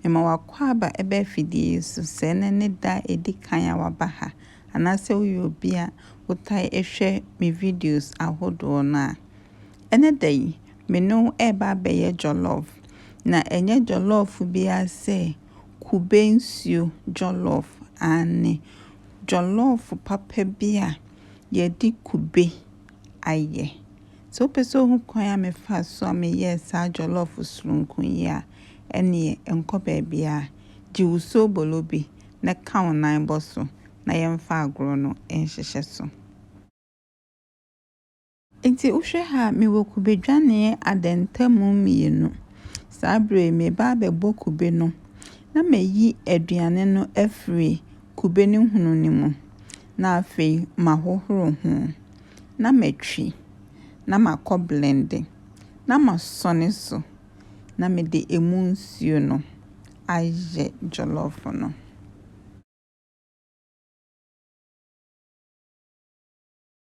Mema w'akwaaba ba afidie yi so, sɛ ɛnnɛ ne da a ɛdi kan a woaba ha, anaasɛ woyɛ obi a wotae hwɛ me videos ahodoɔ no a. Ɛnɛ da yi, me ne wo reba abɛyɛ jollof. Na ɛnyɛ jollof biara sɛ kube nsuo jollof, aane, jollof papa bi a yɛde kube ayɛ. Sɛ wopɛ sɛ wohu kwan a mefaa so a meyɛɛ saa jollof soronko yi a, ɛnneɛ nkɔ baabiara. Gye wo soobolo bi na ka wo nan bɔ so na yɛmfa agorɔ no nhyehyɛ so. Enti wohwɛ ha a, mewɔ kube dwaneɛ adɛntamu mmienu. Saa berɛ yi, mereba abɛbɔ kube no na mayi aduane no afiri kube no hunu no mu. Na afei mahohoro ho, na matwi, na makɔ blende, na masɔne so, na mede emu nsuo no ayɛ jollof no.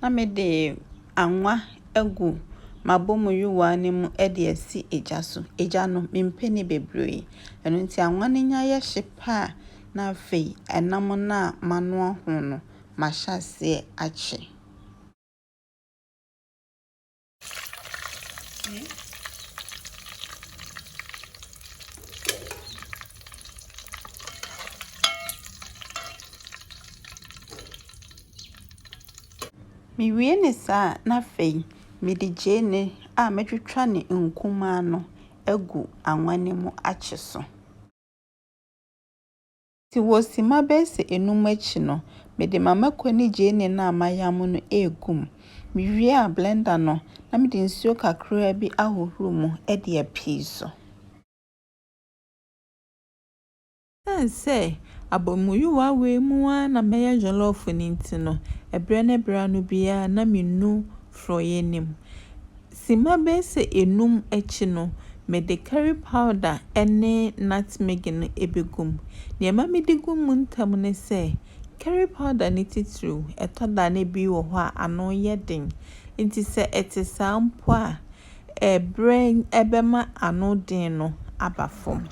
Na mede anwa agu m'abɔmuyowaa no mu de asi gya so. Gya no, mempɛ ne bebree. Ɛno nti anwa no nya yɛ hye pɛ a, na afei ɛnam no a manoa ho no, mahyɛ aseɛ akye. Mewie ne saa a, na afei mede gyeene a matwitwa ne nkumaa no agu anwa no mu akye so. Nti wɔ simma bɛyɛ sɛ enum akyi no, mede m'amako ne gyeene no a mayam no regu mu. Mewie a, blender no, na mede nsuo kakraa bi ahohoro mu de apue so. Ɛsiane sɛ abɔmuyowa wei mu ara na mɛyɛ jollof no nti no, ɛberɛ ne berɛ ano biara na menu forɔeɛ no mu. Simma bɛyɛ sɛ enum akyi no, mede curry powder ne nutmeg no begu mu. Nea ɛma midi gu mu ntɛm ne sɛ, curry powder no titiriw, ɛtɔ da a na ebi wɔ hɔ a ano yɛ den. Enti sɛ ɛte saa mpo a, ɛbrɛ bɛma ano den no aba fam.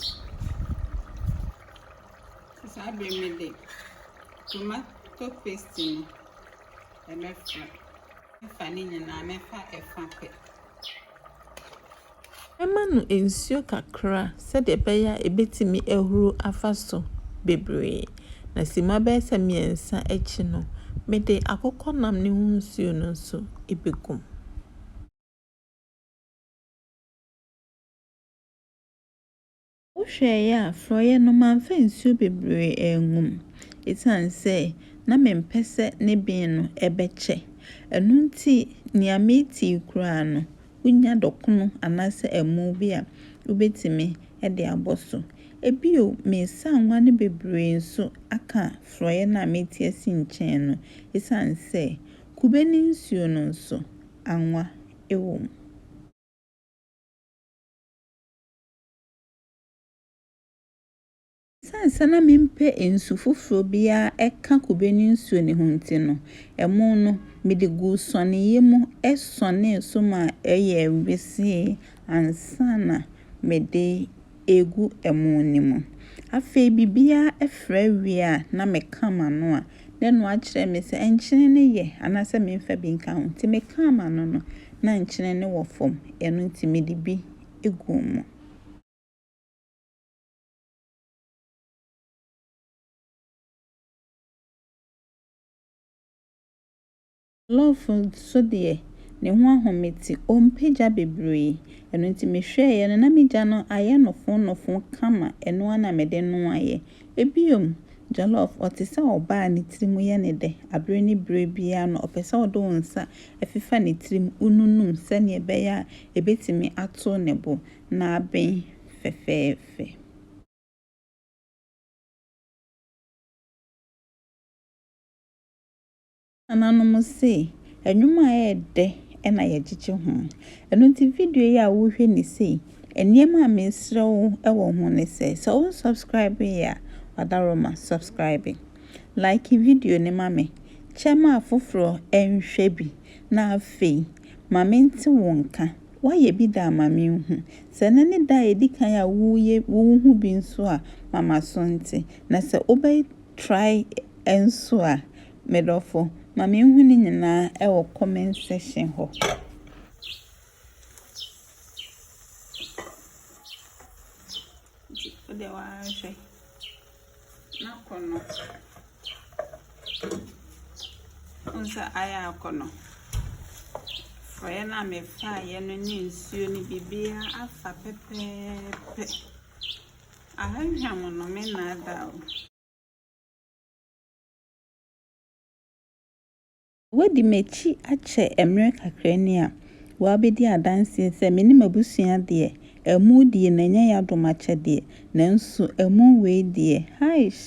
Saa bere yi mede tomato paste no. Mɛfa, mɛfa ne nyinaa, mɛfa ɛfã pɛ. Mɛma no nsuo kakra sɛdeɛ ɛbɛyɛ a ɛbɛtumi ahuru afa so bebree, na simma bɛyɛ sɛ mmiɛnsa akyi no, mede akokɔnam no ho nsuo no nso bɛgu mu. Wohwɛeɛ a, frɔeɛ no, mamfa nsuo bebree angu mu, ɛsiane sɛ na mempɛ sɛ ne ben no bɛkyɛ. Ɛno nti, nea metii koraa no, wonya dɔkono anaasɛ amu bi a, wobɛtumi de abɔ so. Bio, mesaa nwa no bebree nso aka frɔeɛ no a meti asi nkyɛn no, ɛsiane sɛ kube no nsuo no nso, anwa wɔ mu. Esiane sɛ na mempɛ nsu foforo biara ka kube ne nsuo no ho nti no, ɛmo no, mede guu sɔneeɛ mu sɔnee so maa ɛyɛɛ wesee ansa na mede regu ɛmo no mu. Afei biribiara fra wie a, na meka m'ano a, na ɛno akyerɛ me sɛ nkyene no yɛ anaasɛ memfa bi nka ho. Enti mekaa m'ano no, na nkyene no wɔ fam, ɛno nti mede bi gu mu. Jollof nso deɛ, ne ho ahomete, ɔmpɛ gya bebree. Ɛno nti mehwɛeɛ no, na me gya no ayɛ nofoonofoo kama, ɛno ara na mede noaeɛ. Bio, jollof, ɔte sɛ ɔbaa a ne tiri mu yɛ no dɛ, berɛ ne berɛ biara no, ɔpɛ sɛ ɔde wo nsa ɛfefa ne tirim ununum sɛnea ɛbɛyɛ a ebetumi ato ne bo na aben fɛfɛɛfɛ. Yɛn nananom se, Nnwom a ɛyɛ dɛ na yɛgyegye ho. Ɛno nti video yi a worehwɛ ni sei, nneɛma a mesrɛ wo wɔ ho ne sɛ, sɛ wonsubscribee a, w'adaworoma, subscribe. Like video no ma me Kyɛ ma afoforɔ nhwɛ bi, na afei, ma mente wo nka. Woayɛ bi da a, ma menhu. Sɛ ɛnnɛ ne da a ɛdi kan a woreyɛ wo ho bi nso a, ma m'aso nte. Na sɛ wobɛtrae nso a, me dɔfo, ma menhu ne nyinaa wɔ comment section hɔ. Wodeɛ woanhwɛ. N'akɔnnɔ. Wohu sɛ ayɛ akɔnnɔ. Forɔeɛ no a mefaeɛ no ne nsuo no biribiara afa pɛpɛɛpɛ. Ahwam no, mennaadaa wo. Woadi m'akyi akyɛ mmerɛ kakra ni a, woabɛdi adanseɛ sɛ me ne m'abusua deɛ, amu deɛ na ɛnyɛ yɛadom akyɛdeɛ, nanso amu wei deɛ, haish!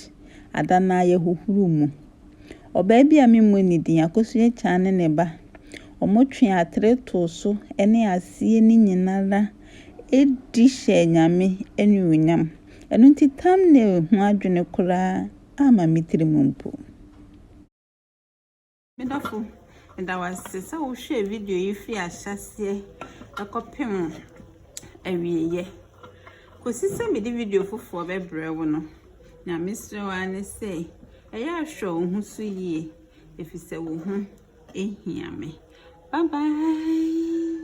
Ada no ara yɛhohoro mu. Ɔbaa bi a memmɔ ne din, Akosu Akyaan ne ne ba, wɔtwee atere too so ne aseɛ no nyina ara di hyɛɛ Nyame anuonyam. Ɛno nti thumbnail ho adwene koraa amma me tirim mpo. Me dɔfo, meda wo ase sɛ wohwɛɛ video yi firi ahyɛaseɛ ɛkɔpem awieeɛ. Kɔsi sɛ mede video foforɔ bɛbrɛ wo no, na mesrɛ wo ara ne sɛ ɛyɛ ahwɛ wo ho so yie, ɛfiri sɛ wo ho ɛhia me. Bye bye.